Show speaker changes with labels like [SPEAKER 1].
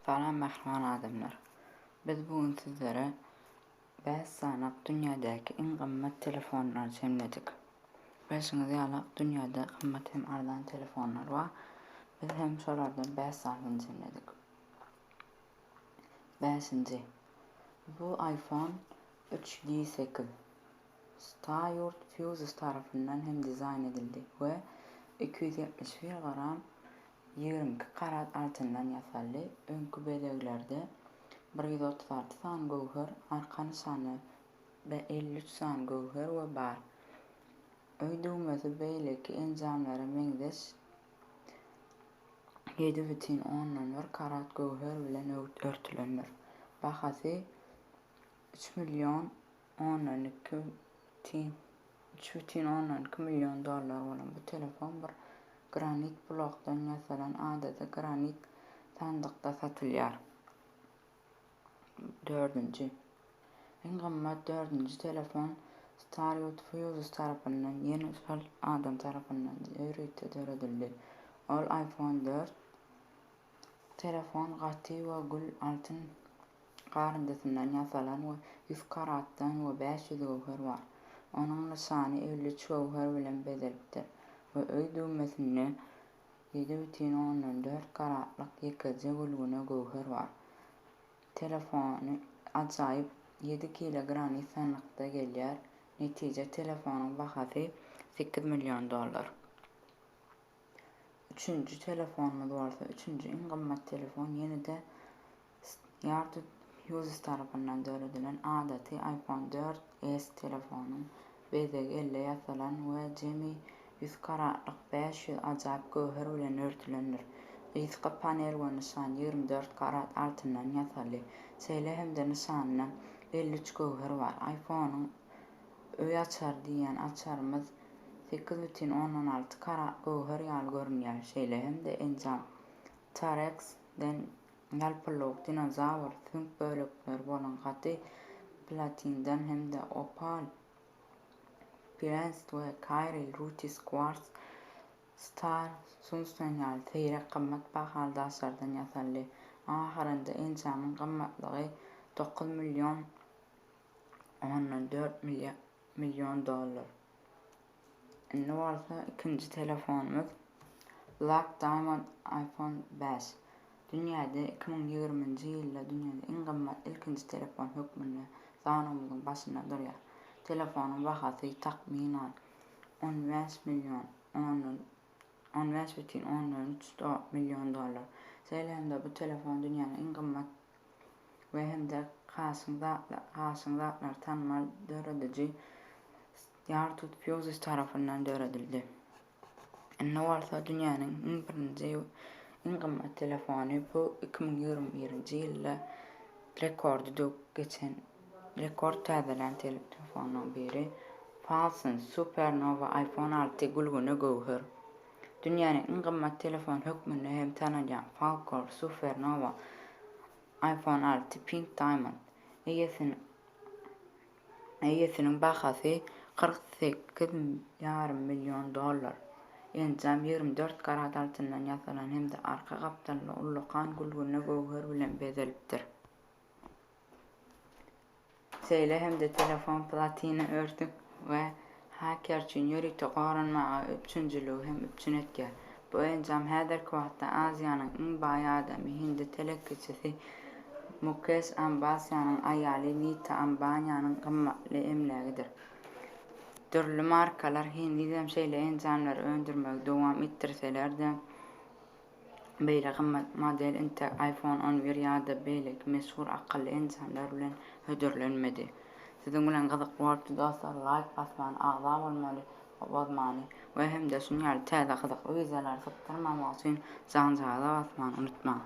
[SPEAKER 1] Salam mähriban adamlar. Biz bu gün sizlere bäş sanak dünýädäki iň gymmat telefonlary jemledik. Bilşiňiz ýaly dünýäde gymmat hem arzan telefonlar bar. Biz hem şolardan bäş sanyny jemledik. Bäşinji. Bu iPhone üç G sekiz. Sta ýurt Fuses tarapyndan hem dizaýn edildi we iki ýüz ýetmiş bir gram Ýigrimi iki karat altyndan ýasaldy, öňki bezeglerde bir ýüz otuz alty sany göwher, arka nyşany we elli üç sany göwher we bar. Öý düwmesi beýleki enjamlara meňzeş ýedi bütin ondan bir karat göwher bilen örtülendir. Bahasy üç million ondan iki tiň, üç bütin ondan iki million dollar bolan bu telefon bir granit blokdan ýasalan adaty granit sandykda satylýar. Dördünji. Iň gymmat dördünji telefon Starwood Fuses tarapyndan ýene şol adam tarapyndan ýörite döredildi. Ol iPhone dört Telefon gaty we gül altyn garyndysyndan ýasalan we ýüz karatdan we bäş ýüz göwher bar. Onuň nyşany elli üç göwher bilen bezelipdir we öý düwmesinde ýedi bütin ondan dört karatlyk ýekeje gülgüne göwher bar. Telefony ajaýyp ýedi kile granit sandykda gelýär. Netije telefonyň bahasy sekiz million dollar. Üçünji telefonymyz bolsa, üçünji iň gymmat telefon ýene-de Ýarty Ýuzis tarapyndan döredilen adaty iPhone dört S telefonyň bezegi elle ýasalan we jemi ýüz karatlyk bäş ýüz ajaýyp göwher bilen örtülendir. Yzky panel we nyşan ýigrimi dört karat altyndan ýasaly. Şeýle hem-de nyşanda elli üç göwher bar. iPhone-yň öý açary diýýän açarymyz sekiz bütin ondan alty karat göwher ýaly görünýär, şeýle hem-de enjam T-Rex den ýalpyllawuk dinozawr süňk bölekleri bolan gaty platinden hem-de opal Pirenst we Kairil Rutis Kwarts Star Sunstone ýaly seýrek gymmat bahaly daşlardan ýasaldy. Ahyrynda enjamyň gymmatlygy dokuz million ondan dört million dollar. Indi bolsa ikinji telefonymyz Black Diamond iPhone bäş. Dünýäde iki müň ýigriminji ýylda dünýäde iň gymmat ilkinji telefon hökmünde sanawymyzyň başynda durýar. Telefonyň bahasy takmynan on bäş million ondan on bäş bütin ondan üç million dollar. Şeýle hem-de bu telefon dünýäniň iň gymmat we hem-de Kaşyň zatlary tanymal dörediji Stýartut Pýuzis tarapyndan döredildi. Indi bolsa dünýäniň iň birinji we iň gymmat telefony bu iki müň ýigrimi birinji ýylda rekordy döwüp geçen rekord täzelän telefonlaryň biri Falcon Supernova iPhone alty gülgüne göwher. Dünýäniň iň gymmat telefony hökmünde hem tanalýan Falcor Supernova iPhone alty Pink Diamond eýesiniň eýesiniň bahasy kyrk sekiz ýarym million dollar. Enjam ýigrimi dört karat altyndan ýasalan hem-de arka gapdalynda ullakan gülgünli göwher bilen bezelipdir. şeýle hem-de telefon platina örtük we haker üçin ýörite goranmaga üpjünçiligi hem üpjün edýär. Bu enjam häzirki wagtda Aziýanyň iň baý adamy, hindi telekeçisi Mukeş Ambasiýanyň aýaly Nita Ambaniýanyň gymmatly emlägidir. Dürli markalar henizem şeýle enjamlary öndürmegi dowam etdirseler-de, Beýle gymmat model entek iPhone on bir ýa-da beýleki meşhur akylly enjamlar bilen hödürlenmedi. Siziň bilen gyzykly bolupdy dostlar laýk basmany agza bolmaly bozmany we hem-de şuny ýaly täze gyzykly wideolary sypdyrmamak üçin janjagaza basmany unutmaň.